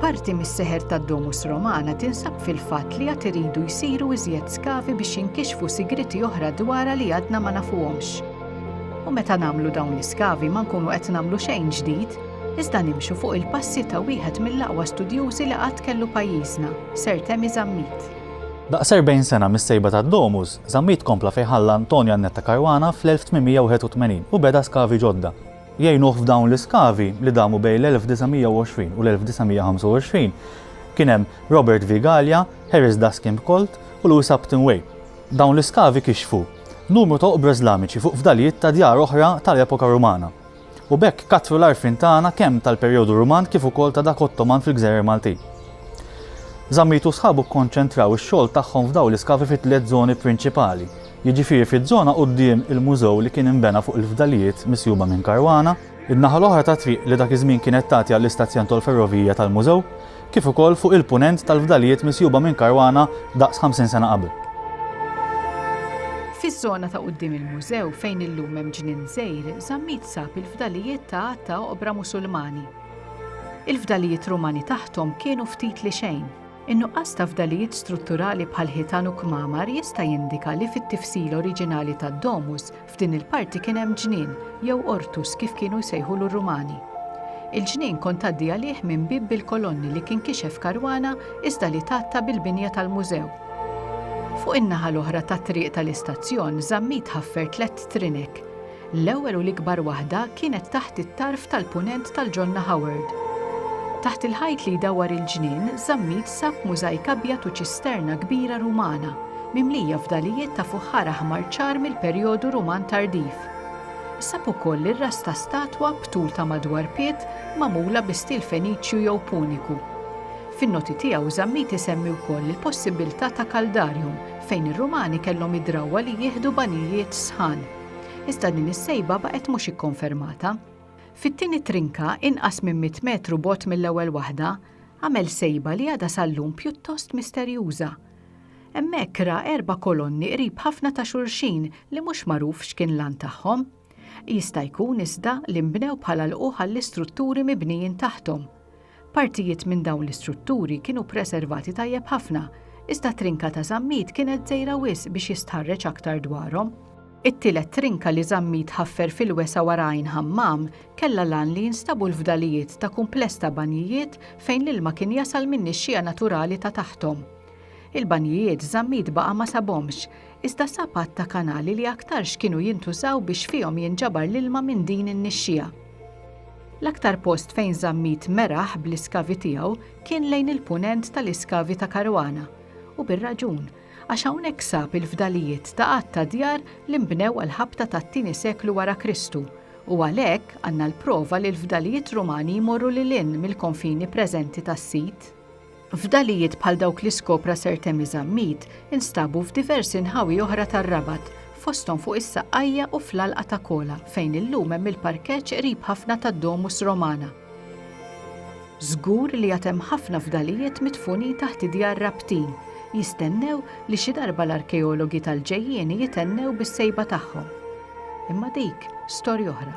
Parti mis-seħer tad-Domus Romana tinsab fil-fatt li għad iridu jsiru iżjed skavi biex jinkixfu sigriti oħra dwarha li għadna ma nafuhomx. U meta nagħmlu dawn l-iskavi ma nkunu qed nagħmlu xejn ġdid, iżda nimxu fuq il-passi ta' wieħed mill-aqwa studjużi li qatt kellu pajjiżna, Sir Temi Zammit. Daqs erbgħin sena mis-sejba tad-domus, Zammit kompla fejn ħalla Antonio Annetta Caruana fl-1881 u beda skavi ġodda. Jgħinuh f'dawn l-iskavi, li damu bejn l-1920 u l-1925, kien hemm Robert V. Galea, Harris Daskin Colt u Louis Upton Way. Dawn l-iskavi kixfu numru ta' oqbra Iżlamiċi fuq fdalijiet ta' djar oħra tal-epoka Rumana. u b'hekk kattru l-għarfien tagħna kemm tal-perjodu Ruman kif ukoll ta' dak Ottoman fil-gżejjer Maltin. Zammit u sħabu kkonċentraw ix-xogħol tagħhom f'dawn l-iskavi fi tliet żoni prinċipali, jiġifieri fiż-żona quddiem il-mużew li kien inbena fuq il-fdalijiet misjuba minn Caruana, in-naħa l-oħra tat-triq li dak iż-żmien kienet tagħti għall-istazzjon tol-ferrovija tal-mużew, kif ukoll fuq il-Punent tal-fdalijiet misjuba minn karwana daqs 50 sena qabel. Fiż-żona ta' quddiem il-mużew fejn illum hemm ġnien żgħir Zammit sab il-fdalijiet ta' għadd ta' oqbra Musulmani. Il-fdalijiet Rumani taħthom kienu ftit li xejn. In-nuqqas ta' fdalijiet strutturali bħal ħitan u kmamar jista' jindika li fit-tifsila oriġinali tad-domus F'din il-parti kien hemm ġnien, jew ortus kif kienu jsejħulu r-Rumani. Il-ġnien kont tgħaddi għalih minn bieb bil-kolonni li kien kixef Caruana iżda li tgħatta bil-binja tal-mużew. Fuq in-naħa l-oħra tat-triq tal-istazzjon Zammit ħaffer tlett trinek. L-ewwel u l-ikbar waħda kienet taħt it-tarf tal-Punent tal-Ġonna Howard. Taħt il-ħajt li jdawwar il-ġnien Zammit sab mużajk abjad u ċisterna kbira Rumana mimlija fdalijiet ta' fuħħar aħmar ċar mill-perjodu Ruman tardiv. Sab ukoll ir-ras ta' statwa b'tul ta' madwar pied magħmula bi stil Feniċju jew Puniku. Fin-noti tiegħu Zammit isemmi wkoll il-possibbiltà ta' caldarium fejn ir-Rumani kellhom id-drawwa li jieħdu banjijiet sħan. Iżda din is-sejba baqgħet mhux ikkonfermata. Fit-tieni trinka, inqas minn 100 metru bogħod mill-ewwel waħda, għamel sejba li għadha sal-lum pjuttost misterjuża. Hemmhekk ra erba' kolonni qrib ħafna ta' xulxin li mhux magħruf x'kien l-għan tagħhom. Jista' jkun, iżda, li nbnew bħala lqugħ għall-istrutturi mibnijin taħthom. Partijiet minn dawn l-istrutturi kienu ppreservati tajjeb ħafna, iżda trinka ta' Żammit kienet żgħira wisq biex jistħarreġ aktar dwarhom. It-tielet trinka li Żammit ħaffer fil-wesgħa wara Għajn Ħammam kellha l-għan li jinstabu l-fdalijiet ta' kumpless ta' banjijiet fejn l-ilma kien jasal min-nixxiegħa naturali ta' taħthom. Il-banjijiet Zammit baqa' ma sabhomx, iżda sab għadd ta' kanali li aktarx kienu jintużaw biex fihom jinġabar l-ilma minn din in-nixxija. L-aktar post fejn Zammit meraħ bl-iskavi tiegħu kien lejn il-Punent tal-iskavi ta' Caruana, u bir-raġun, għax hawnhekk sab il-fdalijiet ta' għadd ta' djar li nbnew għall-ħabta tat-tieni seklu wara Kristu, u għalhekk għandna l-prova li l-fdalijiet Rumani jmorru lil hinn mill-konfini preżenti tas-sit. Fdalijiet bħal dawk li skopra Sir Temi Zammit instabu f'diversi nħawi oħra tar-Rabat, fosthom fuq is-Saqqajja u fl-Għalqa ta' Kola, fejn illum hemm il-parkeġġ qrib ħafna tad-Domus Romana. Żgur li għad hemm ħafna fdalijiet midfunin taħt id-djar Rabtin, jistennew li xi darba l-arkeologi tal-ġejjieni jithennew bis-sejba tagħhom. Imma dik storja oħra.